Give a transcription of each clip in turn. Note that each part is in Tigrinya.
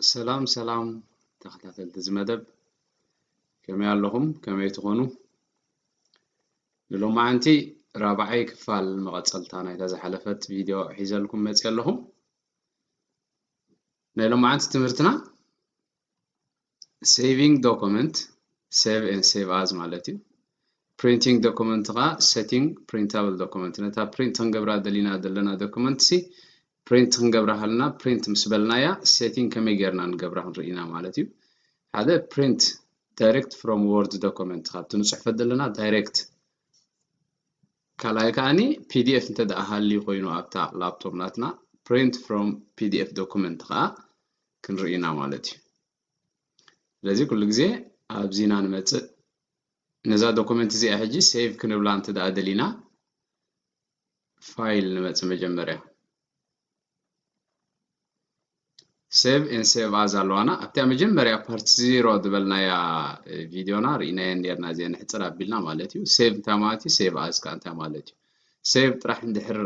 ሰላም ሰላም ተኸታተልቲ እዚ መደብ ከመይ ኣለኹም ከመይ ትኾኑ ንሎማዓንቲ ራብዓይ ክፋል መቐፀልታ ናይታ ዝሓለፈት ቪድዮ ሒዘልኩም መፅየ ኣለኹ ናይ ሎማዓንቲ ትምህርትና ሴቪንግ ዶኩመንት ሴቭ ን ሴቭ ኣዝ ማለት እዩ ፕሪንቲንግ ዶኩመንት ከዓ ሴቲንግ ፕሪንታብል ዶኩመንት ነታ ፕሪንት ክንገብራ ደሊና ዘለና ዶኩመንት ሲ ፕሪንት ክንገብራ ከለና ፕሪንት ምስ በልናያ ሴቲንግ ከመይ ጌርና ንገብራ ክንርኢ ኢና ማለት እዩ ሓደ ፕሪንት ዳይሬክት ፍሮም ወርድ ዶኮመንት ካብቲ ንፅሕፈት ዘለና ዳይሬክት ካልኣይ ከዓኒ ፒዲኤፍ እንተ ደኣ ሃልዩ ኮይኑ ኣብታ ላፕቶፕ ናትና ፕሪንት ፍሮም ፒዲኤፍ ዶኩመንት ከዓ ክንርኢ ኢና ማለት እዩ ስለዚ ኩሉ ግዜ ኣብዚ ኢና ንመፅእ ነዛ ዶኩመንት እዚኣ ሕጂ ሴቭ ክንብላ እንተ ደኣ ደሊና ፋይል ንመጽእ መጀመርያ ሴቭ ኤን ሴቭ ኣዝ ኣለዋና ኣብታ መጀመርያ ፓርቲ ዜሮ ዝበልናያ ቪድዮና ርኢናየን ነርና እዚአ ንሕፅር ኣቢልና ማለት እዩ ሴቭ እንታይ ማለት እዩ ሴቭ ኣዝ ከዓ እንታይ ማለት እዩ ሴቭ ጥራሕ እንድሕር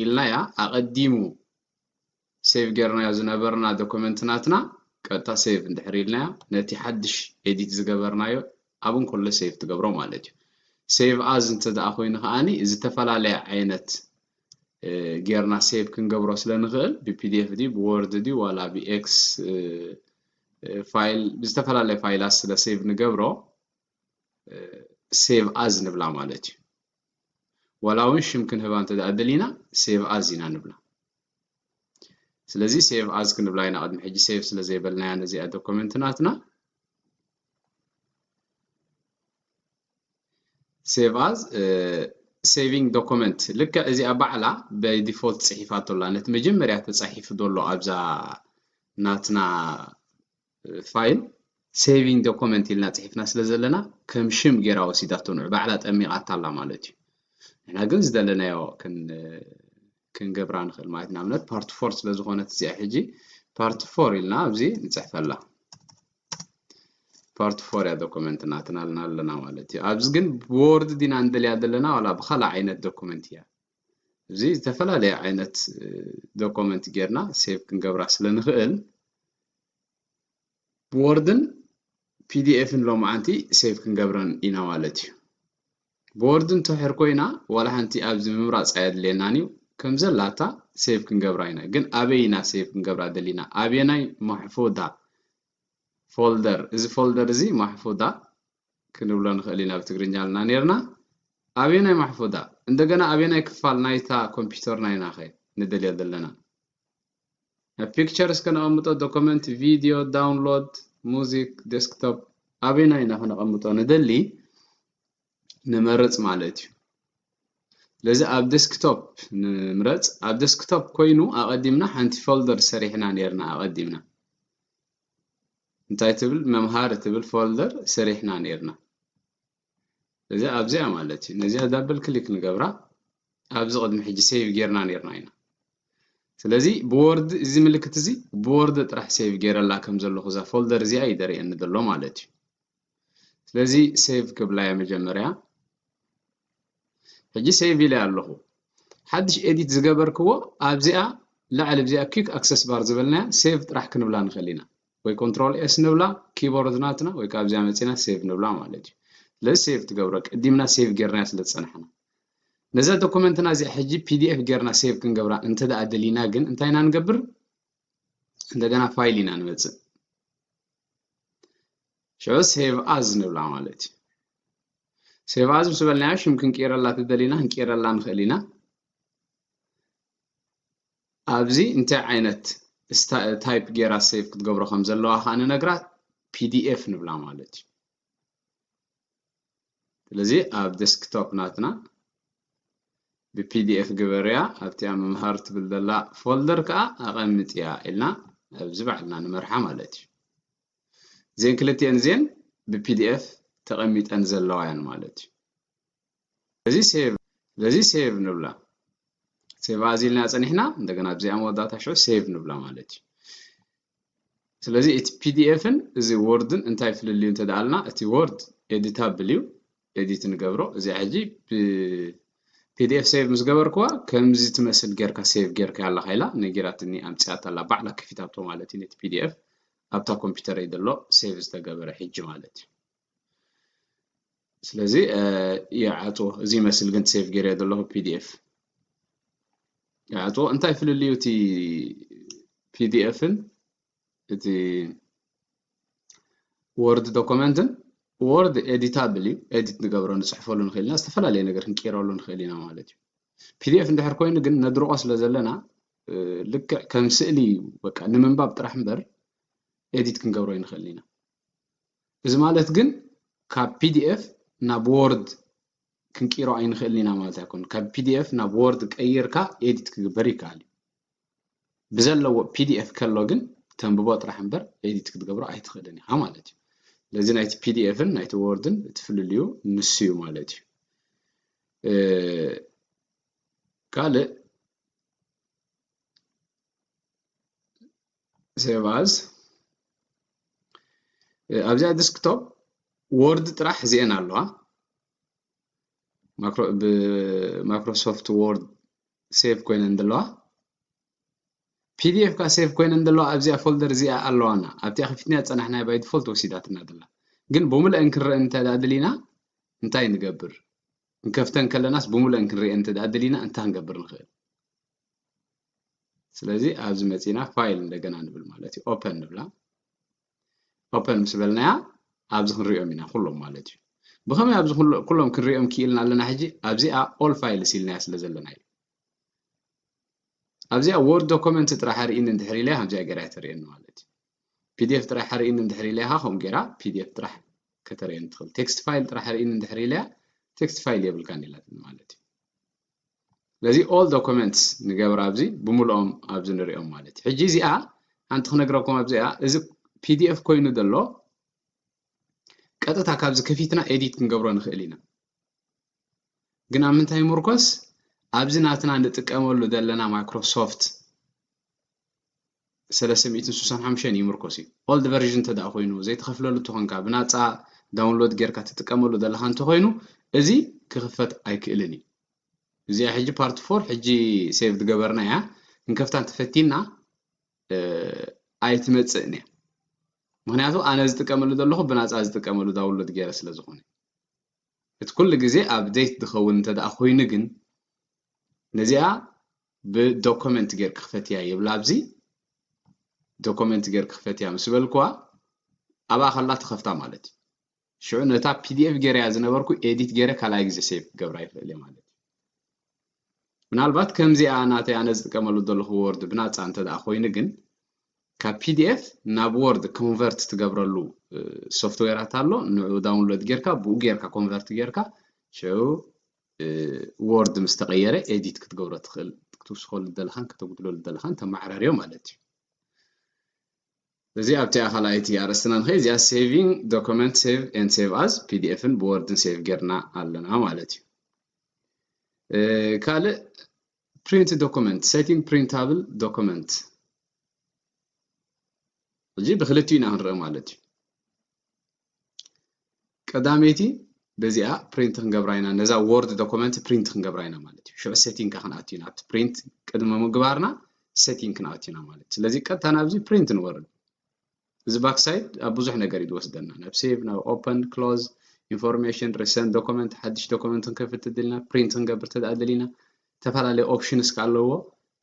ኢልናያ ኣቐዲሙ ሴቭ ጌርናዮ ዝነበርና ዶኮመንት ናትና ቀጥታ ሴቭ እንድሕር ኢልናዮ ነቲ ሓድሽ ኤዲት ዝገበርናዮ ኣብ እንኮሎ ሴቭ ትገብሮ ማለት እዩ ሴቭ ኣዝ እንተ ደኣ ኮይኑ ከኣኒ ዝተፈላለየ ዓይነት ጌርና ሴቭ ክንገብሮ ስለ ንኽእል ብፒዲኤፍ ድዩ ብወርድ ድዩ ዋላ ብኤክስ ፋይል ብዝተፈላለየ ፋይላት ስለ ሴቭ ንገብሮ ሴቭ ኣዝ ንብላ ማለት እዩ ዋላ ውን ሽም ክንህባ እንተ ደሊና ሴቭ ኣዝ ኢና ንብላ ስለዚ ሴቭ ኣዝ ክንብላ ኢና ቅድሚ ሕጂ ሴቭ ስለ ዘይበልናያ ነዚኣ ዶኮመንት ናትና ሴቭ ኣዝ ሴቪንግ ዶኮመንት ልክዕ እዚኣ ባዕላ ባይ ዲፎልት ፅሒፋቶ ኣላ ነቲ መጀመርያ ተፃሒፉ ዘሎ ኣብዛ ናትና ፋይል ሴቪንግ ዶኮመንት ኢልና ጽሒፍና ስለ ዘለና ከም ሽም ጌራ ወሲዳቶ ንዑ ባዕላ ጠሚቓታ ኣላ ማለት እዩ ንሕና ግን ዝደለናዮ ክንገብራ ንኽእል ማለት ንኣብነት ፓርቲ ፎር ስለ ዝኾነት እዚኣ ሕጂ ፓርቲ ፎር ኢልና ኣብዚ ንፅሕፈላ ፓርቲ ፎር እያ ዶኩመንት ናትና ልና ኣለና ማለት እዩ ኣብዚ ግን ብወርድ ዲና እንደልያ ዘለና ዋላ ብካልእ ዓይነት ዶኩመንት እያ እዚ ዝተፈላለየ ዓይነት ዶኩመንት ጌርና ሴቭ ክንገብራ ስለ ንኽእል ብወርድን ፒዲኤፍን ሎምዓንቲ ሴቭ ክንገብረን ኢና ማለት እዩ ብወርድ እንተሕር ኮይና ዋላ ሓንቲ ኣብዚ ምምራፅ ኣየድልየናን እዩ ከምዘላታ ሴቭ ክንገብራ ኢና ግን ኣበይ ኢና ሴቭ ክንገብራ ደሊና ኣብየናይ ማሕፉዳ ፎልደር እዚ ፎልደር እዚ ማሕፉዳ ክንብሎ ንኽእል ኢና ብትግርኛ ኣልና ነርና ኣብየናይ ማሕፉዳ እንደገና ኣብየናይ ክፋል ናይታ ኮምፒውተርና ኢና ኸ ንደልዮ ዘለና ኣብ ፒክቸርስ ከነቐምጦ ዶኮመንት ቪድዮ ዳውንሎድ ሙዚክ ዴስክቶፕ ኣበይና ኢና ከነቐምጦ ንደሊ ንመርፅ ማለት እዩ ስለዚ ኣብ ዴስክቶፕ ንምረፅ ኣብ ዴስክቶፕ ኮይኑ ኣቐዲምና ሓንቲ ፎልደር ሰሪሕና ነርና ኣቐዲምና እንታይ ትብል መምሃር ትብል ፎልደር ሰሪሕና ነርና እዚ ኣብዚኣ ማለት እዩ ነዚኣ ዳብል ክሊክ ንገብራ ኣብዚ ቅድሚ ሕጂ ሴቭ ጌርና ኔርና ኢና ስለዚ ብወርድ እዚ ምልክት እዚ ብወርድ ጥራሕ ሴቭ ጌረላ ከም ዘለኹ እዛ ፎልደር እዚኣ እዩ ደርእየኒ ዘሎ ማለት እዩ ስለዚ ሴቭ ክብላ እየ መጀመርያ ሕጂ ሴቭ ኢለ ኣለኹ ሓድሽ ኤዲት ዝገበርክዎ ኣብዚኣ ላዕሊ ኣብዚኣ ኪክ ኣክሰስ ባር ዝበልናያ ሴቭ ጥራሕ ክንብላ ንኽእል ኢና ወይ ኮንትሮል ኤስ ንብላ ኪቦርድ ናትና ወይ ካብዚኣ መጺና ሴቭ ንብላ ማለት እዩ ስለዚ ሴቭ ትገብሮ ቅዲምና ሴቭ ጌርናዮ ስለ ዝጸናሕና ነዛ ዶኩመንትና እዚኣ ሕጂ ፒዲኤፍ ጌርና ሴቭ ክንገብራ እንተ ደኣ ደሊና ግን እንታይ ኢና ንገብር እንደገና ፋይል ኢና ንመጽእ ሸ ሴቭ ኣዝ ንብላ ማለት እዩ ሴቭ ኣዝ ምስ በልናዮ ሽም ክንቅይረላ ተደሊና ክንቅይረላ ንኽእል ኢና ኣብዚ እንታይ ዓይነት ታይፕ ጌራ ሴቭ ክትገብሮ ከም ዘለዋ ከዓ ንነግራ ፒዲኤፍ ንብላ ማለት እዩ ስለዚ ኣብ ዴስክቶፕ ናትና ብፒዲኤፍ ግበርያ ኣብቲኣ ምምሃር ትብል ዘላ ፎልደር ከዓ ኣቐምጥያ ኢልና ኣብዚ ባዕልና ንመርሓ ማለት እዩ እዚን ክልትኤን እዚን ብፒዲኤፍ ተቐሚጠን ዘለዋ እየን ማለት እዩ ለዚ ሴቭ ለዚ ሴቭ ንብላ ሴቭ ኣዝ ኢልና ጸኒሕና እንደገና ኣብዚኣ መወዳእታ ሽዑ ሴቭ ንብላ ማለት እዩ ስለዚ እቲ ፒዲኤፍን እዚ ወርድን እንታይ ፍልልዩ እንተደኣልና እቲ ወርድ ኤዲታብል እዩ ኤዲት ንገብሮ እዚኣ ሕጂ ብፒዲኤፍ ሴቭ ምስ ገበርክዋ ከምዚ ትመስል ጌርካ ሴቭ ጌርካ ኣለካ ኢላ ነጊራትኒ ኣምፅኣት ኣላ ባዕላ ከፊታቶ ማለት እዩ ነቲ ፒዲኤፍ ኣብታ ኮምፒውተረይ ዘሎ ሴቭ ዝተገበረ ሕጂ ማለት እዩ ስለዚ ይዓጽዎ እዚ ይመስል ግን ሴቭ ገይረ ዘለኹ ፒዲኤፍ ይዓጽዎ እንታይ ፍልልዩ እቲ ፒዲኤፍን እቲ ወርድ ዶኩመንትን ወርድ ኤዲታብል እዩ ኤዲት ንገብሮ ንፅሕፈሉ ንኽእል ኢና ዝተፈላለየ ነገር ክንቀይረሉ ንኽእል ኢና ማለት እዩ ፒዲኤፍ እንድሕር ኮይኑ ግን ነድርቆ ስለ ዘለና ልክዕ ከም ስእሊ እዩ በቃ ንምንባብ ጥራሕ እምበር ኤዲት ክንገብሮ ይንኽእል ኢና እዚ ማለት ግን ካብ ፒዲኤፍ ናብ ዎርድ ክንቅይሮ ኣይንኽእልን ኢና ማለት ኣይኮን። ካብ ፒዲኤፍ ናብ ዎርድ ቀይርካ ኤዲት ክግበር ይከኣል እዩ። ብዘለዎ ፒዲኤፍ ከሎ ግን ተንብቦ ጥራሕ እምበር ኤዲት ክትገብሮ ኣይትኽእልን ኢኻ ማለት እዩ። ስለዚ ናይቲ ፒዲኤፍን ናይቲ ወርድን እቲ ፍልልዩ ንሱ እዩ ማለት እዩ ካልእ ሴቭ ኣዝ ኣብዚኣ ዲስክቶፕ ወርድ ጥራሕ እዚኤን ኣለዋ ብማይክሮሶፍት ወርድ ሴቭ ኮይነን ዘለዋ ፒዲኤፍ ካ ሴቭ ኮይነን ዘለዋ ኣብዚኣ ፎልደር እዚኣ ኣለዋና ኣብቲኣ ከፊትና ፀናሕናያ ባይ ዲፎልት ወሲዳትና ዘላ ግን ብምልአን ክንረአ እንተደሊና እንታይ ንገብር ንከፍተን ከለናስ ብምልአን ክንሪአን እንተደሊና እንታይ ክንገብር ንኽእል ስለዚ ኣብዚ መጺና ፋይል እንደገና ንብል ማለት እዩ ኦፐን ንብላ ኦፐን ምስ በልናያ ኣብዚ ክንሪኦም ኢና ኩሎም ማለት እዩ ብኸመይ ኣብዚ ኩሎም ክንሪኦም ክኢልና ኣለና ሕጂ ኣብዚኣ ኦል ፋይልስ ኢልናያ ስለ ዘለና እዩ ኣብዚኣ ወርድ ዶኮመንት ጥራሕ ኣርእኒ እንድሕር ኢለያ ከምዚኣ ገይራ ተርእየኒ ማለት እዩ ፒዲኤፍ ጥራሕ ኣርእኒ እንድሕር ኢለያ ከምኡ ገይራ ፒዲኤፍ ጥራሕ ከተርእየኒ ትኽእል ቴክስት ፋይል ጥራሕ ኣርእኒ እንድሕር ኢለያ ቴክስት ፋይል የብልካን ኢላትኒ ማለት እዩ ስለዚ ኦል ዶኮመንትስ ንገብር ኣብዚ ብምልኦም ኣብዚ ንሪኦም ማለት እዩ። ሕጂ እዚኣ ሓንቲ ክነግረኩም ኣብዚኣ እዚ ፒዲኤፍ ኮይኑ ዘሎ ቀጥታ ካብዚ ከፊትና ኤዲት ክንገብሮ ንኽእል ኢና። ግን ኣብ ምንታይ ምርኮስ ኣብዚ ናትና ንጥቀመሉ ዘለና ማይክሮሶፍት ሰለስተ ሚእትን ስሳን ሓሙሽተን ይምርኮስ እዩ ኦልድ ቨርዥን እንተደኣ ኮይኑ ዘይትኸፍለሉ እንተኾንካ ብናጻ ዳውንሎድ ጌርካ ትጥቀመሉ ዘለኻ እንተኾይኑ እዚ ክኽፈት ኣይክእልን እዩ እዚኣ ሕጂ ፓርት ፎር ሕጂ ሴቭ ዝገበርና እያ ክንከፍታ እንተፈቲና ኣይትመጽእን እያ ምክንያቱ ኣነ ዝጥቀመሉ ዘለኹ ብናፃ ዝጥቀመሉ ዳውንሎድ ገይረ ስለ ዝኾነ እቲ ኩሉ ግዜ ኣብዴት ዝኸውን እንተደኣ ኮይኑ ግን ነዚኣ ብዶኮመንት ጌርኪ ክፈትያ ይብላ ኣብዚ ዶኮመንት ጌርኪ ክፈትያ ምስ በልክዋ ኣብኣ ከላ ትኸፍታ ማለት እዩ ሽዑ ነታ ፒዲኤፍ ጌረያ ዝነበርኩ ኤዲት ጌረ ካልኣይ ግዜ ሴቭ ክገብራ ይኽእል እየ ማለት እዩ ምናልባት ከምዚኣ ናተይ ኣነ ዝጥቀመሉ ዘለኹ ወርድ ብናፃ እንተ ደኣ ኮይኑ ግን ካብ ፒዲኤፍ ናብ ወርድ ኮንቨርት ትገብረሉ ሶፍትዌራት ኣሎ ንዑ ዳውንሎድ ጌርካ ብኡ ጌርካ ኮንቨርት ጌርካ ሽዑ ዎርድ ምስ ተቐየረ ኤዲት ክትገብሮ ትኽእል ክትውስኸሉ ዘለኻን ከተጉድለሉ ዘለኻን ተመዓራርዮ ማለት እዩ እዚ ኣብቲ ኣኻልኣይቲ ኣርእስትና ንኸይ እዚኣ ሴቪንግ ዶክመንት ሴቭ ኤን ሴቭ ኣዝ ፒዲኤፍን ብወርድን ሴቭ ጌርና ኣለና ማለት እዩ ካልእ ፕሪንት ዶክመንት ሴቲንግ ፕሪንታብል ዶክመንት እዚ ብክልቲኡ ኢና ክንርኢ ማለት እዩ ቀዳመይቲ በዚኣ ፕሪንት ክንገብራ ኢና ነዛ ወርድ ዶክመንት ፕሪንት ክንገብራ ኢና ማለት እዩ ሽዑ ሴቲንግ ክንኣቱ ኢና ኣብቲ ፕሪንት ቅድሚ ምግባርና ሴቲንግ ክንኣቱ ኢና ማለት ስለዚ ቀጥታ ናብዚ ፕሪንት ንወርድ እዚ ባክሳይድ ኣብ ብዙሕ ነገር እዩ ዝወስደና ናብ ሴቭ ናብ ኦፐን ክሎዝ ኢንፎርሜሽን ሪሰንት ዶክመንት ሓድሽ ዶክመንት ክንከፍት ተደሊና ፕሪንት ክንገብር ተደኣ ደሊና ዝተፈላለየ ኦፕሽንስ ከኣ ኣለዎ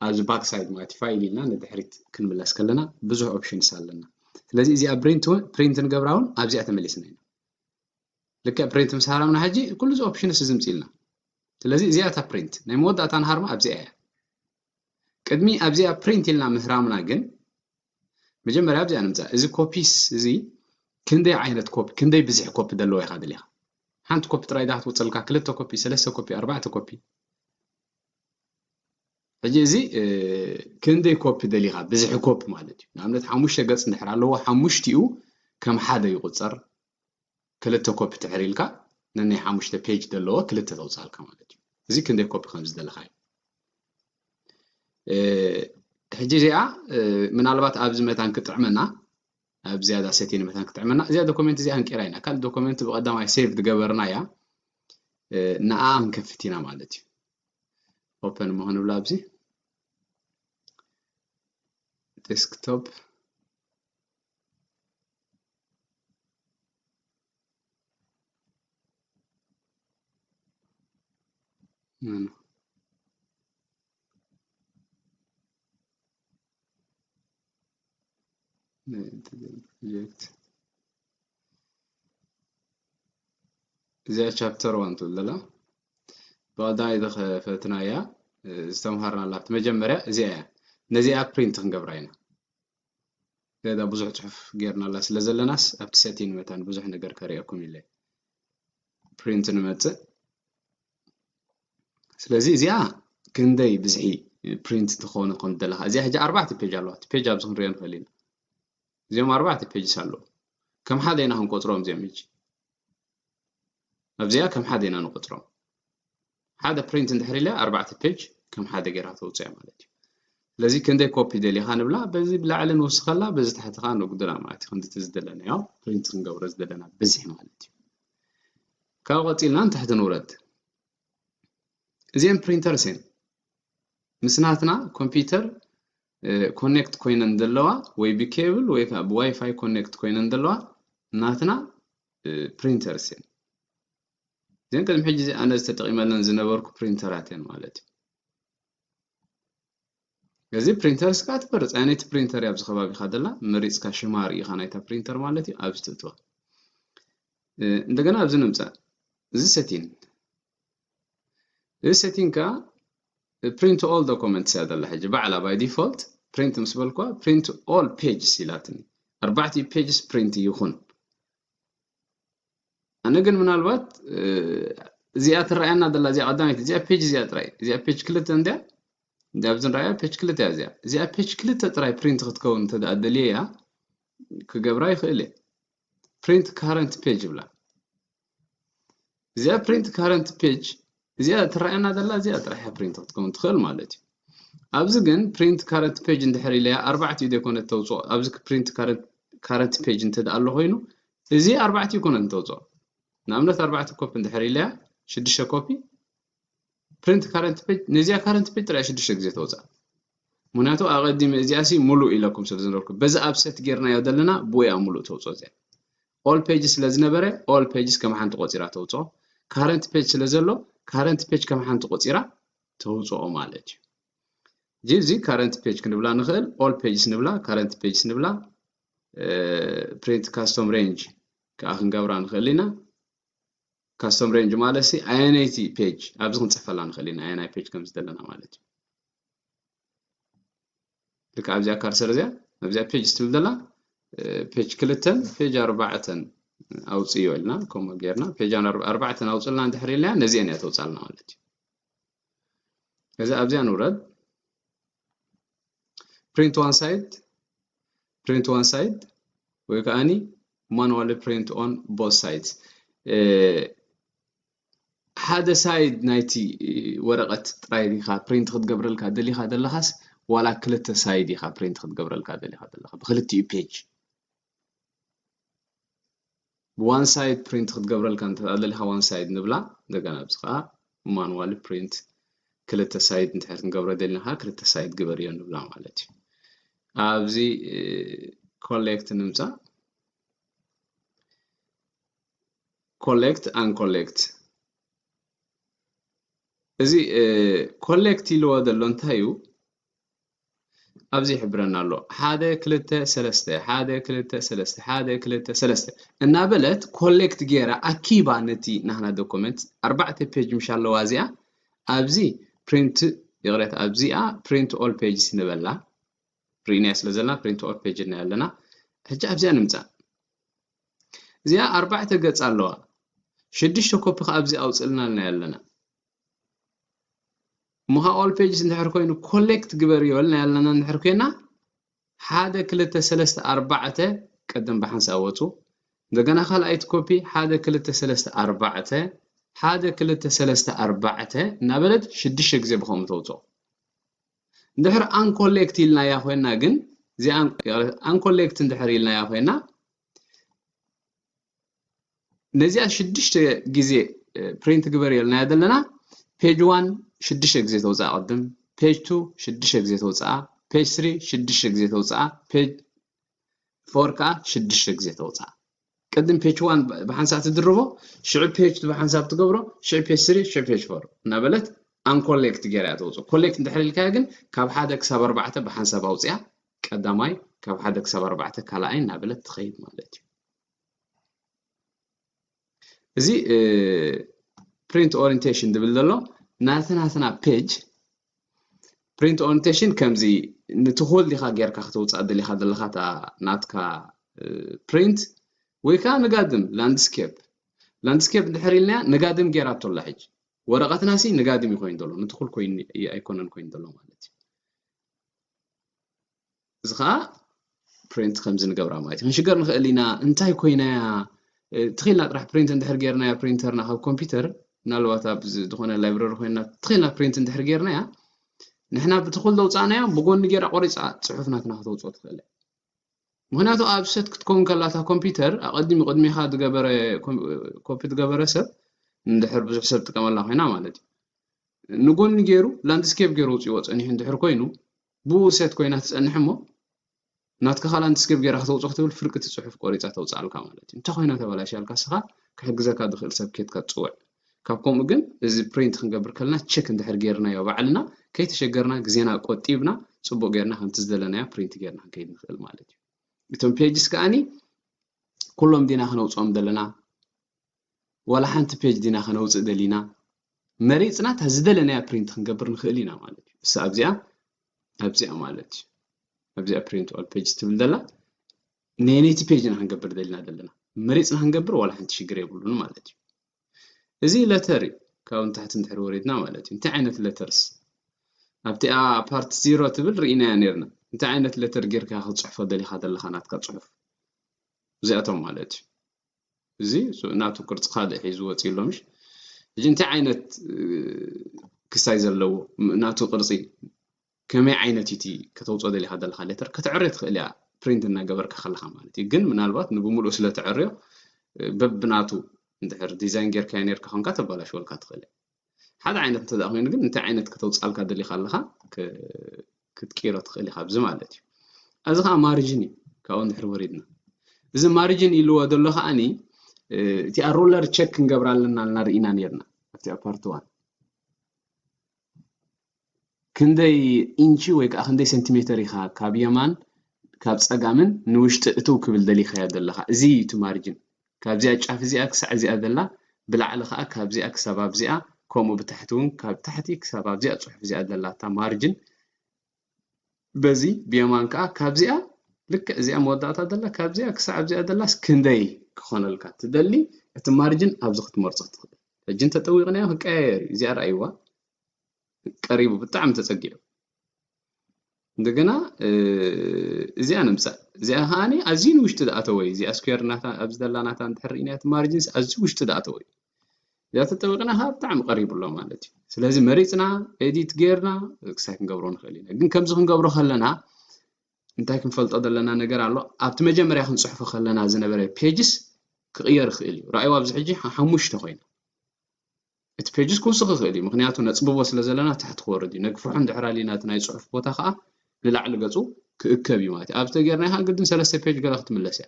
ኣብዚ ባክ ሳይድ ማለት እዩ ፋይል ኢልና ንድሕሪት ክንምለስ ከለና ብዙሕ ኦፕሽንስ ኣለና ስለዚ እዚኣ ፕሪንት እውን ፕሪንት ንገብራ እውን ኣብዚኣ ተመሊስና ኢና ልክዕ ፕሪንት ምስ ሃረምና ሕጂ ኩሉ እዚ ኦፕሽንስ እዚ ምፅልና ስለዚ እዚኣ እታ ፕሪንት ናይ መወዳእታ ንሃርማ ኣብዚኣ እያ ቅድሚ ኣብዚኣ ፕሪንት ኢልና ምህራምና ግን መጀመርያ ኣብዚኣ ንምፃእ እዚ ኮፒስ እዚ ክንደይ ዓይነት ኮፒ ክንደይ ብዝሒ ኮፒ ዘለዎ ኢኻ ደሊኻ ሓንቲ ኮፒ ጥራይ ዳ ክትወፅልካ ክልተ ኮፒ ሰለስተ ኮፒ ኣርባዕተ ኮፒ ሕጂ እዚ ክንደይ ኮፒ ደሊኻ ብዝሒ ኮፒ ማለት እዩ ንኣብነት ሓሙሽተ ገፅ እንድሕር ኣለዎ ሓሙሽቲኡ ከም ሓደ ይቁፀር ክልተ ኮፒ ትሕር ኢልካ ነናይ ሓሙሽተ ፔጅ ዘለዎ ክልተ ተውፅኣልካ ማለት እዩ እዚ ክንደይ ኮፒ ከም ዝደለኻዩ ሕጂ እዚኣ ምናልባት ኣብዚ መታን ክጥዕመና ኣብ ዝያዳ ሰቲን መታን ክጥዕመና እዚኣ ዶኩመንት እዚኣ ንቂራ ኢና ካልእ ዶኩመንት ብቀዳማይ ሴቭ ዝገበርና እያ ንኣ ክንከፍት ኢና ማለት እዩ ኦፐን እሞ ክንብላ ኣብዚ ዴስክቶፕ Mano. ፕሮጀክት እዚኣ ቻፕተር ዋን ትብል ዘላ ብቐዳማይ ዝኸፈትና እያ ዝተምሃርናላ መጀመርያ እዚኣ እያ ነዚኣ ፕሪንት ክንገብራ ኢና ገዛ ብዙሕ ጽሑፍ ጌርናላ ስለ ዘለናስ ኣብቲ ሰቲን መታን ብዙሕ ነገር ከርእየኩም ኢለ ፕሪንት ንመጽእ ስለዚ እዚኣ ክንደይ ብዝሒ ፕሪንት ትኾኑ ከም ዘለካ እዚኣ ሕጂ ኣርባዕተ ፔጅ ኣለዋ እቲ ፔጅ ኣብዚ ክንሪኦ ንኽእል ኢና እዚኦም ኣርባዕተ ፔጅስ ኣለዉ ከም ሓደ ኢና ክንቆፅሮም እዚኦም ሕጂ ኣብዚኣ ከም ሓደ ኢና ንቆጽሮም ሓደ ፕሪንት እንድሕር ኢለ ኣርባዕተ ፔጅ ከም ሓደ ጌራ ተውጽያ ማለት እዩ ስለዚ ክንደይ ኮፒ ደሊኻ ንብላ በዚ ብላዕሊ ንውስኸላ በዚ ታሕቲ ከዓ ነጉድላ ማለት እዩ ክንዲቲ ዝደለናዮ ፕሪንት ክንገብሮ ዝደለና ብዝሒ ማለት እዩ ካብኡ ቀፂልና ንታሕቲ ንውረድ እዚአን ፕሪንተርስ እየን ምስ ናትና ኮምፒውተር ኮኔክት ኮይነን ዘለዋ ወይ ብኬብል ወይ ከዓ ብዋይፋይ ኮኔክት ኮይነን ዘለዋ ናትና ፕሪንተርስ እየን እዚን ቅድሚ ሕጂ ኣነ ዝተጠቂመለን ዝነበርኩ ፕሪንተራት እየን ማለት እዩ እዚ ፕሪንተርስ ከዓ ትመርፅ ኣየነይቲ ፕሪንተር እያ ኣብዚ ከባቢካ ደላ መሪፅካ ሽማ ርኢኻ ናይታ ፕሪንተር ማለት እዩ ኣብዚ ትእትዋ እንደገና ኣብዚ ንምፃእ እዚ ሰቲን እዚ ሴቲንግ ከኣ ፕሪንት ኦል ዶኮመንትስ እያ ዘላ ሕጂ ባዕላ ባይ ዲፎልት ፕሪንት ምስ በልኳ ፕሪንት ኦል ፔጅስ ኢላትኒ ኣርባዕቲኡ ፔጅስ ፕሪንት ይኹን ኣነ ግን ምናልባት እዚኣ ትረኣየና ዘላ እዚኣ ቀዳመይቲ እዚኣ ፔጅ እዚኣ ጥራይ እዚኣ ፔጅ ክልተ እንድያ እንዲ ኣብዚ ንረኣያ ፔጅ ክልተ እያ እዚኣ እዚኣ ፔጅ ክልተ ጥራይ ፕሪንት ክትከውን እንተደኣ ደልየያ ክገብራ ይኽእል እየ ፕሪንት ካረንት ፔጅ ይብላ እዚኣ ፕሪንት ካረንት ፔጅ እዚኣ ትረኣየና ዘላ እዚኣ ጥራሕ እያ ፕሪንት ክትከውን ትኽእል ማለት እዩ ኣብዚ ግን ፕሪንት ካረንት ፔጅ እንድሕር ኢለያ ኣርባዕቲኡ ዘይኮነት ተውፅኦ ኣብዚ ፕሪንት ካረንት ፔጅ እንተ ኣሎ ኮይኑ እዚ ኣርባዕቲኡ ኮነት እንተውፅኦ ንኣብነት ኣርባዕተ ኮፒ እንድሕር ኢለያ ሽዱሽተ ኮፒ ፕሪንት ካረንት ፔጅ ነዚኣ ካረንት ፔጅ ጥራይ ሽዱሽተ ግዜ ተወፅኣ ምክንያቱ ኣቐዲመ እዚኣ ሲ ሙሉእ ኢለኩም ስለ ዝነበርኩ በዚ ኣብ ሰት ጌርናዮ ዘለና ብኡ እያ ሙሉእ ተውፅኦ እዚኣ ኦል ፔጅ ስለ ዝነበረ ኦል ፔጅስ ከም ሓንቲ ቆፂራ ተውፅኦ ካረንት ፔጅ ስለ ዘሎ ካረንት ፔጅ ከም ሓንቲ ቆፂራ ተውፅኦ ማለት እዩ እጂ እዚ ካረንት ፔጅ ክንብላ ንኽእል ኦል ፔጅስ ንብላ ካረንት ፔጅስ ንብላ ፕሪንት ካስቶም ሬንጅ ከዓ ክንገብራ ንኽእል ኢና ካስተም ሬንጅ ማለት ሲ ኣየነይቲ ፔጅ ኣብዚ ክንፅሕፈላ ንኽእል ኢና ኣየናይ ፔጅ ከም ዝደለና ማለት እዩ ልክ ኣብዚኣ ካርሰር እዚያ ኣብዚኣ ፔጅ ስትብል ዘላ ፔጅ ክልተን ፔጅ ኣርባዕተን ኣውፅዮ ኢልና ከምኡ ጌርና ፔጅ ኣርባዕተን ኣውፅልና እንድሕር ኢልና ነዚአን እያ ተውፃልና ማለት እዩ እዚ ኣብዚኣ ንውረድ ፕሪንት ዋን ሳይድ ፕሪንት ዋን ሳይድ ወይ ከዓኒ ማኑዋሊ ፕሪንት ኦን ቦት ሳይድ ሓደ ሳይድ ናይቲ ወረቐት ጥራይ ዲኻ ፕሪንት ክትገብረልካ ደሊኻ ዘለኻስ ዋላ ክልተ ሳይድ ኢኻ ፕሪንት ክትገብረልካ ደሊኻ ዘለኻ ብክልቲኡ ፔጅ ብዋን ሳይድ ፕሪንት ክትገብረልካ እንተደሊኻ ዋን ሳይድ ንብላ እንደገና ኣብዚ ከዓ ማኑዋሊ ፕሪንት ክልተ ሳይድ እንድሕር ክንገብሮ ደሊና ከዓ ክልተ ሳይድ ግበርዮ ንብላ ማለት እዩ ኣብዚ ኮሌክት ንምፃእ ኮሌክት ኣን ኮሌክት እዚ ኮሌክት ኢልዎ ዘሎ እንታይ እዩ ኣብዚ ይሕብረና ኣሎ ሓደ ክልተ ሰለስተ ሓደ ክልተ ሰለስተ ሓደ ክልተ ሰለስተ እናበለት ኮሌክት ገይራ ኣኪባ ነቲ ናህና ዶኮመንት ኣርባዕተ ፔጅ ምሻ ኣለዋ እዚኣ ኣብዚ ፕሪንት ይቕሬታ ኣብዚኣ ፕሪንት ኦል ፔጅስ ንበላ ርኢናያ ስለ ዘለና ፕሪንት ኦል ፔጅ እና ኣለና ሕጂ ኣብዚኣ ንምፃእ እዚኣ ኣርባዕተ ገፅ ኣለዋ ሽዱሽተ ኮፒ ከዓ ኣብዚ ኣውፅልና ኣለና ኣለና እሞ ኸኣ ኦል ፔጅስ እንድሕር ኮይኑ ኮሌክት ግበርዮ ኢልና ኣለና እንድሕር ኮይና ሓደ ክልተ ሰለስተ ኣርባዕተ ቅድም ብሓንሳእ ወፁ እንደገና ካልኣይቲ ኮፒ ሓደ ክልተ ሰለስተ ኣርባዕተ ሓደ ክልተ ሰለስተ ኣርባዕተ እናበለት ሽዱሽተ ግዜ ብከምኡ ተውፅኦ እንድሕር ኣንኮሌክት ኢልናያ ኮይና ግን እዚ ኣንኮሌክት እንድሕር ኢልናያ ኮይና ነዚኣ ሽዱሽተ ግዜ ፕሪንት ግበር የልናያ ዘለና ፔጅ ዋን ሽዱሽተ ግዜ ተውፅኣ ቅድም ፔጅ ቱ ሽዱሽተ ግዜ ተውፅኣ ፔጅ ስሪ ሽዱሽተ ግዜ ተውፅኣ ፔጅ ፎር ከዓ ሽዱሽተ ግዜ ተውፅኣ ቅድም ፔጅ ዋን ብሓንሳእ ትድርቦ ሽዑ ፔጅ ቱ ብሓንሳብ ትገብሮ ሽዑ ፔጅ ስሪ ሽዑ ፔጅ ፎር እናበለት ኣንኮሌክት ገይራ እያ ተውፅኦ ኮሌክት እንድሕር ኢልካዮ ግን ካብ ሓደ ክሳብ ኣርባዕተ ብሓንሳብ ኣውፅያ ቀዳማይ ካብ ሓደ ክሳብ ኣርባዕተ ካልኣይ እናበለት ትኸይድ ማለት እዩ እዚ ፕሪንት ኦሪንቴሽን ዝብል ዘሎ ናትናትና ፔጅ ፕሪንት ኦሪንቴሽን ከምዚ ንትኹል ዲኻ ጌርካ ክትውፃእ ደሊኻ ዘለኻ እታ ናትካ ፕሪንት ወይ ከዓ ንጋድም ላንድስኬፕ ላንድስኬፕ ድሕር ኢልና ንጋድም ጌራቶ ኣላ ሕጂ ወረቐትና ሲ ንጋድም እዩ ኮይኑ ዘሎ ንትኹል ኮይኑ ኣይኮነን ኮይኑ ዘሎ ማለት እዩ እዚ ከዓ ፕሪንት ከምዚ ንገብራ ማለት እዩ ክንሽገር ንኽእል ኢና እንታይ ኮይና እያ ትኽኢልና ጥራሕ ፕሪንት እንድሕር ጌርናያ ፕሪንተርና ካብ ኮምፒውተር ምናልባት ኣብ ዝኾነ ላይብረሪ ኮይና ትኽኢልና ፕሪንት እንድሕር ጌርናያ ንሕና ብቲ ኩሉ ዘውፃእናዮ ብጎኒ ጌራ ቆሪፃ ፅሑፍ ናትና ክትወፅኦ ትኽእል እያ ምክንያቱ ኣብ ሰት ክትከውን ከላ እታ ኮምፒውተር ኣቐዲሙ ቅድሚኻ ዝገበረ ኮፒ ዝገበረ ሰብ እንድሕር ብዙሕ ሰብ ጥቀመላ ኮይና ማለት እዩ ንጎኒ ገይሩ ላንድስኬፕ ገይሩ ውፅዎ ፀኒሑ እንድሕር ኮይኑ ብኡ ሴት ኮይና ትጸንሕ እሞ ናትካ ካል ኣንትስገብ ጌራ ከተውጾ ክትብል ፍርቂ እቲ ጽሑፍ ቆሪጻ ተውጻኣልካ ማለት እዩ እንታይ ኮይና ተባላሽያልካ ስኻ ክሕግዘካ ድኽእል ሰብ ኬትካ ትጽውዕ ካብ ከምኡ ግን እዚ ፕሪንት ክንገብር ከለና ቸክ እንድሕር ጌርናዮ ባዕልና ከይተሸገርና ግዜና ቆጢብና ጽቡቅ ጌርና ከምቲ ዝደለናዮ ፕሪንት ጌርና ክንከይድ ንኽእል ማለት እዩ እቶም ፔጅስ ከኣኒ ኩሎም ዲና ክነውጽኦም ዘለና ዋላ ሓንቲ ፔጅ ዲና ከነውጽእ ደሊና መሪጽና እታ ዝደለናያ ፕሪንት ክንገብር ንኽእል ኢና ማለት እዩ እሳ ኣብዚኣ ኣብዚኣ ማለት እዩ ኣብዚኣ ፕሪንት ኦል ፔጅ ትብል ደላ ነየነይቲ ፔጅ ኢና ክንገብር ደሊና ዘለና መሪጽና ክንገብር ዋላ ሓንቲ ሽግር የብሉን ማለት እዩ እዚ ለተር እዩ ካብኡ ንታሕቲ እንድሕር ወሪድና ማለት እዩ እንታይ ዓይነት ለተርስ ኣብቲኣ ፓርት ዚሮ ትብል ርኢናያ ነርና እንታይ ዓይነት ለተር ጌርካ ክትፅሕፎ ደሊኻ ዘለኻ ናትካ ፅሑፍ እዚኣቶም ማለት እዩ እዚ ናቱ ቅርጺ ካልእ ሒዙ ወጺኡ ኣሎ ምሽ ሕጂ እንታይ ዓይነት ክሳይ ዘለዎ ናቱ ቅርጺ ከመይ ዓይነት እቲ ከተውፅኦ ደሊኻ ዘለካ ሌተር ከተዕርዮ ትኽእል እያ ፕሪንት እናገበርካ ከለካ ማለት እዩ ግን ምናልባት ንብምሉእ ስለተዕርዮ በብናቱ እንድሕር ዲዛይን ጌርካዮ ነርካ ኮንካ ተባላሽወልካ ትኽእል እያ ሓደ ዓይነት እንተደኣ ኮይኑ ግን እንታይ ዓይነት ከተውፅኣልካ ደሊኻ ኣለኻ ክትቅይሮ ትኽእል ኢኻ ኣብዚ ማለት እዩ እዚ ከዓ ማርጅን እዩ ካብኡ ንድሕር ወሪድና እዚ ማርጅን ኢልዎ ዘሎ ከዓኒ እቲኣ ሩለር ቸክ ክንገብራ ኣለና ልና ርኢና ነርና ኣብቲኣ ፓርቲ ዋን ክንደይ ኢንቺ ወይ ከኣ ክንደይ ሰንቲሜተር ኢኻ ካብ የማን ካብ ጸጋምን ንውሽጢ እትው ክብል ደሊኻዮ ዘለኻ እዚ እዩ እቲ ማርጅን ካብዚኣ ጫፍ እዚኣ ክሳዕ እዚኣ ዘላ ብላዕሊ ከኣ ካብዚኣ ክሳብ ኣብዚኣ ከምኡ ብታሕቲ ውን ካብ ታሕቲ ክሳብ ኣብዚኣ ጽሑፍ እዚኣ ዘላታ ማርጅን በዚ ብየማን ከኣ ካብዚኣ ልክዕ እዚኣ መወዳእታ ዘላ ካብዚኣ ክሳዕ ኣብዚኣ ዘላስ ክንደይ ክኾነልካ ትደሊ እቲ ማርጅን ኣብዚ ክትመርጾ ትኽእል ሕጂ እንተጠዊቕናዮ ክቀያየር እዩ እዚኣ ረኣይዋ ቀሪቡ ብጣዕሚ ተጸጊዑ እንደገና እዚኣ ንምጻእ እዚኣ ከዓ ኣዝዩ ንውሽጢ ዝኣተወ እዩ እዚኣ ስኩዌር ናታ ኣብዚ ዘላ ናታ እንድሕር ርኢናያ እቲ ማርጅንስ ኣዝዩ ውሽጢ ዝኣተወ እዩ እዚኣ ተጠቢቕና ከዓ ብጣዕሚ ቀሪቡ ኣሎ ማለት እዩ ስለዚ መሪፅና ኤዲት ጌርና ክሳይ ክንገብሮ ንኽእል ኢና ግን ከምዚ ክንገብሮ ከለና እንታይ ክንፈልጦ ዘለና ነገር ኣሎ ኣብቲ መጀመርያ ክንፅሕፎ ከለና ዝነበረ ፔጅስ ክቕየር ይኽእል እዩ ረኣይዋ ኣብዚ ሕጂ ሓሙሽተ ኮይና እቲ ፔጅስ ክውስኽ ይኽእል እዩ ምኽንያቱ ነጽብቦ ስለ ዘለና ታሕቲ ክወርድ እዩ ነግፍሖ እንድሕር ኣሊና እቲ ናይ ጽሑፍ ቦታ ከኣ ንላዕሊ ገጹ ክእከብ እዩ ማለት እዩ ኣብዚ ተጌርና ይሃ ግድን ሰለስተ ፔጅ ገለ ክትምለስ እያ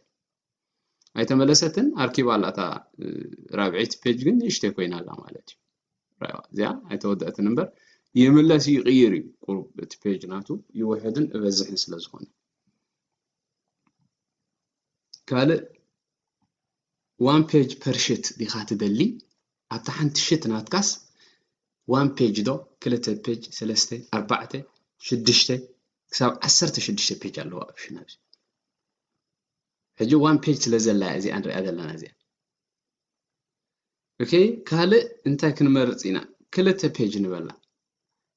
ኣይተመለሰትን ኣርኪባ ኣላ እታ ራብዒት ፔጅ ግን ንእሽተይ ኮይና ኣላ ማለት እዩ ራዋ እዚኣ ኣይተወደእትን እምበር ይምለስ ይቕይር እዩ ቁሩብ እቲ ፔጅ ናቱ ይውሕድን እበዝሕን ስለ ዝኾነ ካልእ ዋን ፔጅ ፐር ሽት ዲካ ትደሊ ኣብታ ሓንቲ ሽት ናትካስ ዋን ፔጅ ዶ ክልተ ፔጅ ሰለስተ ኣርባዕተ ሽዱሽተ ክሳብ ዓሰርተ ሽዱሽተ ፔጅ ኣለዋ ኣብ ሽና ኣብዚ ሕጂ ዋን ፔጅ ስለ ዘላ እያ እዚኣ ንሪኣ ዘለና እዚኣ ኦኬ ካልእ እንታይ ክንመርፅ ኢና ክልተ ፔጅ ንበላ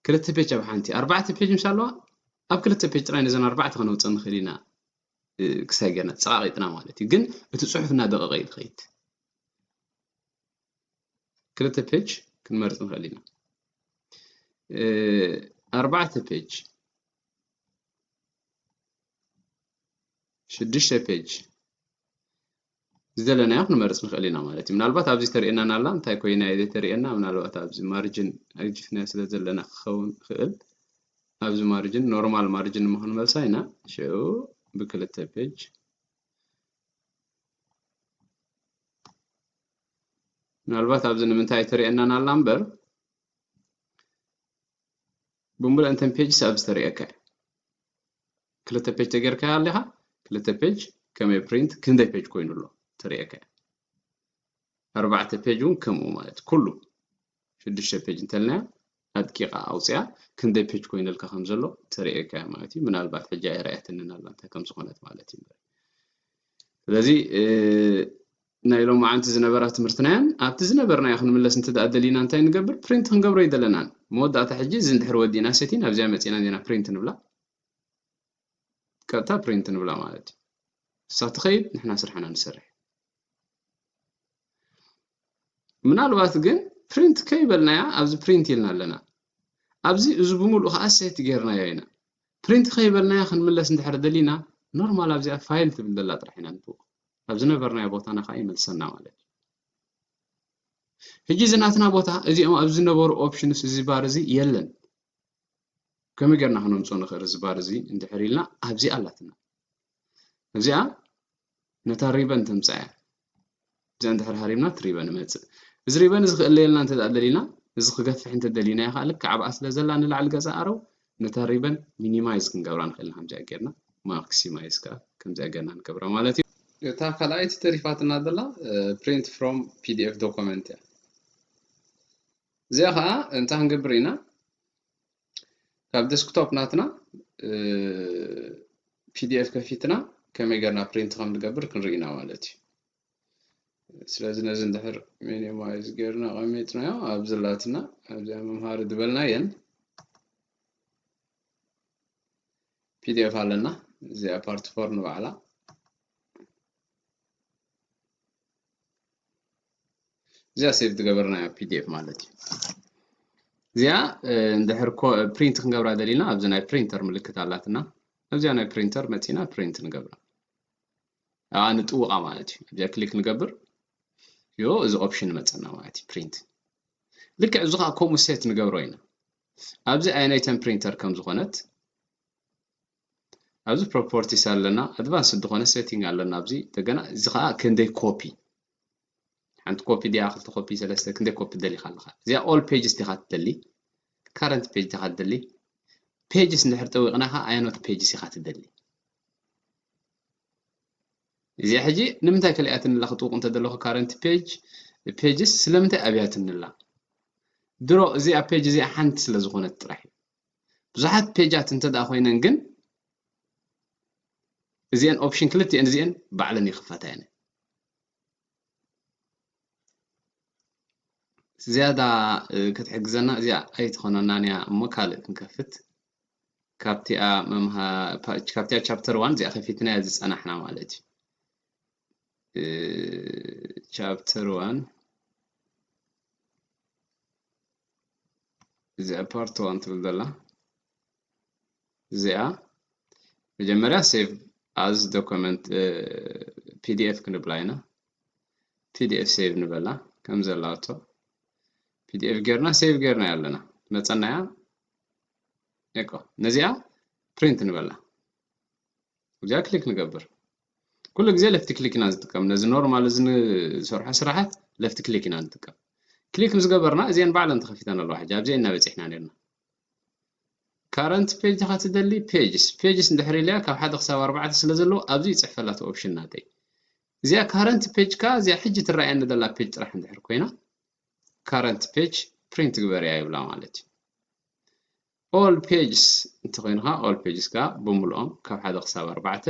ክልተ ፔጅ ኣብ ሓንቲ ኣርባዕተ ፔጅ ምስ ኣለዋ ኣብ ክልተ ፔጅ ጥራይ ነዘን ኣርባዕተ ከነውፅእ ንኽእል ኢና ክሳይ ገና ጸቓቒጥና ማለት እዩ ግን እቲ ጽሑፍ እናደቐቐ እዩ ዝኸይድ ክልተ ፔጅ ክንመርጽ ንኽእል ኢና ኣርባዕተ ፔጅ ሽዱሽተ ፔጅ ዝደለናዮ ክንመርጽ ንኽእል ኢና ማለት እዩ። ምናልባት ኣብዚ ተርእየናና ኣላ እንታይ ኮይና እየ ዘይተርእየና ምናልባት ኣብዚ ማርጅን ኣግጅፍናዮ ስለ ዘለና ክኸውን ይኽእል ኣብዚ ማርጅን ኖርማል ማርጅን እሞ ክንመልሳ ኢና ሽዑ ብክልተ ፔጅ ምናልባት ኣብዚ ንምንታይ ተርእየናና ኣላ እምበር ብምሉእ እንተን ፔጅስ ኣብዚ ተርእየካ እዩ ክልተ ፔጅ ተገርካያ ኣለኻ ክልተ ፔጅ ከመይ ፕሪንት ክንደይ ፔጅ ኮይኑ ኣሎ ትርእየካ ኣርባዕተ ፔጅ እውን ከምኡ ማለት ኩሉ ሽዱሽተ ፔጅ እንተልናያ ኣድቂቓ ኣውፅያ ክንደይ ፔጅ ኮይነልካ ከም ዘሎ ተርእየካ እያ ማለት እዩ ምናልባት ሕጂ ኣይረኣየትንን ኣላ እንታይ ከም ዝኾነት ማለት እዩ ስለዚ ናይ ሎማዓንቲ ዝነበራ ትምህርትና'ያን ኣብቲ ዝነበርናዮ ክንምለስ እንተደኣ ደሊና እንታይ ንገብር ፕሪንት ክንገብሮ ኣይደለናን መወዳእታ ሕጂ እዚ እንድሕር ወዲእና ሰቲን ኣብዚኣ መጺእና እንዲና ፕሪንት ንብላ ቀጥታ ፕሪንት ንብላ ማለት እዩ ንሳ ትኸይድ ንሕና ስርሕና ንሰርሕ ምናልባት ግን ፕሪንት ከይበልናያ ኣብዚ ፕሪንት ኢልና ኣለና ኣብዚ እዚ ብምሉእ ከዓ ሴት ጌርናዮ ኢና ፕሪንት ከይበልናያ ክንምለስ እንድሕር ደሊና ኖርማል ኣብዚኣ ፋይል ትብል ዘላ ጥራሕ ኢና ንብቅ ናብ ዝነበርናዮ ቦታና ከዓ ይመልሰና ማለት እዩ ሕጂ እዚ ናትና ቦታ እዚኦም ኣብ ዝነበሩ ኦፕሽንስ እዚ ባር እዚ የለን ከመይ ጌርና ክነምፅኦ ንኽእል እዚ ባር እዚ እንድሕር ኢልና ኣብዚኣ ኣላትና እዚኣ ነታ ሪበን ተምፅኣ እያ እዚኣ እንድሕር ሃሪምና እቲ ሪበን እመፅእ እዚ ሪበን እዚ ክእለየልና እንተ ደሊና እዚ ክገፍሕ እንተደሊናዮ ከዓ ልክዕ ኣብኣ ስለ ዘላ ንላዕሊ ገዛ ኣረው ነታ ሪበን ሚኒማይዝ ክንገብራ ንኽእል ኢና ከምዚኣ ጌርና ማክሲማይዝ ከኣ ከምዚኣ ጌርና ንገብራ ማለት እዩ። እታ ካልኣይቲ ተሪፋትና ዘላ ፕሪንት ፍሮም ፒዲኤፍ ዶኮመንት እያ እዚኣ ከዓ እንታይ ክንገብር ኢና ካብ ዴስክቶፕ ናትና ፒዲኤፍ ከፊትና ከመይ ጌርና ፕሪንት ከም ንገብር ክንርኢ ኢና ማለት እዩ። ስለዚ ነዚ እንድሕር ሚኒማይዝ ጌርና ኣቐሚጥናዮ ኣብ ዝላትና ኣብዚኣ መምሃሪ ዝበልናየን ፒዲኤፍ ኣለና እዚኣ ፓርቲ ፎር ንባዕላ እዚኣ ሴቭ ዝገበርናያ ፒዲኤፍ ማለት እዩ እዚኣ እንድሕር ፕሪንት ክንገብራ ደሊና ኣብዚ ናይ ፕሪንተር ምልክት ኣላትና ኣብዚኣ ናይ ፕሪንተር መፂና ፕሪንት ንገብራ ኣብኣ ንጥውቓ ማለት እዩ ኣብዚኣ ክሊክ ንገብር ዮ እዚ ኦፕሽን መፀና ማለት እዩ ፕሪንት ልክዕ እዚ ከዓ ከምኡ ሴት ንገብሮ ኢና ኣብዚ ኣየናይተን ፕሪንተር ከም ዝኾነት ኣብዚ ፕሮፖርቲስ ኣለና ኣድቫንስ ዝኾነ ሴቲንግ ኣለና ኣብዚ እንደገና እዚ ከዓ ክንደይ ኮፒ ሓንቲ ኮፒ ድያ ክልተ ኮፒ ሰለስተ ክንደይ ኮፒ ደሊኻ ኣለኻ እዚኣ ኦል ፔጅስ ዲኻ ትደሊ ካረንት ፔጅ ዲኻ ትደሊ ፔጅስ እንድሕር ጠዊቕና ከዓ ኣየኖት ፔጅስ ኢኻ ትደሊ እዚኣ ሕጂ ንምንታይ ከሊኣትኒላ ክጥውቕ እንተደለኹ ካረንት ፔጅ ፔጅስ ስለምንታይ ኣብያትኒላ ድሮ እዚኣ ፔጅ እዚኣ ሓንቲ ስለ ዝኾነት ጥራሕ እዩ ብዙሓት ፔጃት እንተ ደኣ ኮይነን ግን እዚአን ኦፕሽን ክልቲኤን እዚአን ባዕለን ይኽፈታ እየን ዝያዳ ክትሕግዘና እዚኣ ኣይትኾነናን እያ እሞ ካልእ ክንከፍት ካብቲኣ ካብቲኣ ቻፕተር ዋን እዚኣ ከፊትናያ ዝፀናሕና ማለት እዩ ቻፕተር ዋን እዚኣ ፓርት ዋን ትብል ዘላ እዚኣ መጀመርያ ሴቭ ኣዝ ዶኮመንት ፒዲኤፍ ክንብላ ኢና ፒዲኤፍ ሴቭ ንበላ ከም ዘላቶ ፒዲኤፍ ጌርና ሴቭ ጌርና ኣለና መፀናያ እኮ ነዚኣ ፕሪንት ንበላ እዚኣ ክሊክ ንገብር ኩሉ ግዜ ለፍቲ ክሊክ ኢና ዝጥቀም ነዚ ኖርማል እዚ ንሰርሖ ስራሓት ለፍቲ ክሊክ ኢና ንጥቀም ክሊክ ምስ ገበርና እዚአን ባዕለን ተኸፊተን ኣለዋ ሕጂ ኣብዚአን ኢና በፂሕና ነርና ካረንት ፔጅ ዲኻ ትደሊ ፔጅስ ፔጅስ እንድሕር ኢለያ ካብ ሓደ ክሳብ ኣርባዕተ ስለ ዘለዎ ኣብዚ ይጽሕፍ ኣላ እቲ ኦፕሽን ናተይ እዚኣ ካረንት ፔጅ ከኣ እዚኣ ሕጂ ትረኣየኒ ዘላ ፔጅ ጥራሕ እንድሕር ኮይና ካረንት ፔጅ ፕሪንት ግበርያ ይብላ ማለት እዩ ኦል ፔጅስ እንተኮይንካ ኦል ፔጅስ ከኣ ብምልኦም ካብ ሓደ ክሳብ ኣርባዕተ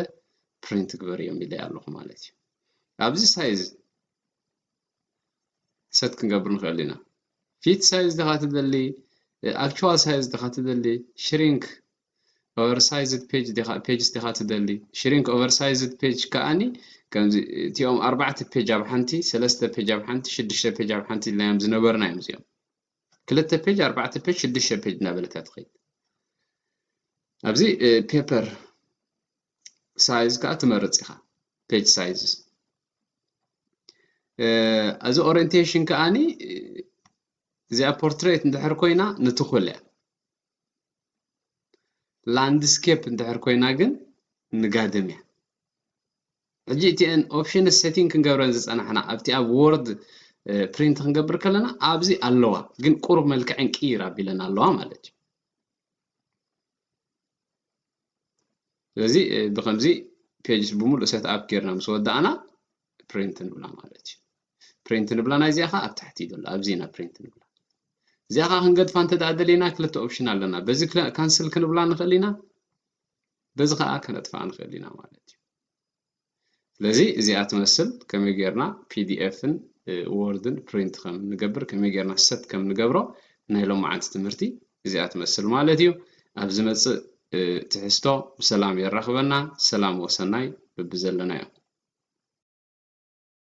ፕሪንት ግበር እዮም ኢለያ ኣለኹ ማለት እዩ ኣብዚ ሳይዝ ሰት ክንገብር ንክእል ኢና ፊት ሳይዝ ድካ ትደሊ ኣክቹዋል ሳይዝ ድካ ትደሊ ሽሪንክ ኦቨርሳይዝድ ፔጅ ድካ ፔጅስ ድካ ትደሊ ሽሪንክ ኦቨርሳይዝድ ፔጅ ከኣኒ ከምዚ እቲኦም ኣርባዕተ ፔጅ ኣብ ሓንቲ ሰለስተ ፔጅ ኣብ ሓንቲ ሽዱሽተ ፔጅ ኣብ ሓንቲ ኢልናዮም ዝነበርና እዮም እዚኦም ክልተ ፔጅ ኣርባዕተ ፔጅ ሽዱሽተ ፔጅ እናበለካ ትኸይድ ኣብዚ ፔፐር ሳይዝ ከዓ ትመርፅ ኢኻ ፔጅ ሳይዝስ እዚ ኦሪንቴሽን ከዓኒ እዚኣ ፖርትሬት እንድሕር ኮይና ንትኹል እያ ላንድስኬፕ እንድሕር ኮይና ግን ንጋድም እያ ሕጂ እቲአን ኦፕሽን ሴቲንግ ክንገብረን ዝፀናሕና ኣብቲ ኣብ ወርድ ፕሪንት ክንገብር ከለና ኣብዚ ኣለዋ ግን ቁሩብ መልክዐን ቅይር ኣቢለን ኣለዋ ማለት እዩ ስለዚ ብከምዚ ፔጅስ ብምሉእ ሴት ኣፕ ጌርና ምስ ወዳእና ፕሪንት ንብላ ማለት እዩ ፕሪንት ንብላ ናይ እዚኣ ከዓ ኣብ ታሕቲ እዩ ዘሎ ኣብዚ ኢና ፕሪንት ንብላ እዚኣ ከዓ ክንገድፋ እንተ ደኣ ደሊና ክልተ ኦፕሽን ኣለና በዚ ካንስል ክንብላ ንኽእል ኢና በዚ ከዓ ከነጥፍኣ ንኽእል ኢና ማለት እዩ ስለዚ እዚኣ ትመስል ከመይ ጌርና ፒዲኤፍን ወርድን ፕሪንት ከም ንገብር ከመይ ጌርና ሰት ከም ንገብሮ ናይ ሎማዓንቲ ትምህርቲ እዚኣ ትመስል ማለት እዩ ኣብ ዝመጽእ ትሕዝቶ ብሰላም የራኽበና ሰላም ወሰናይ በብዘለናዮ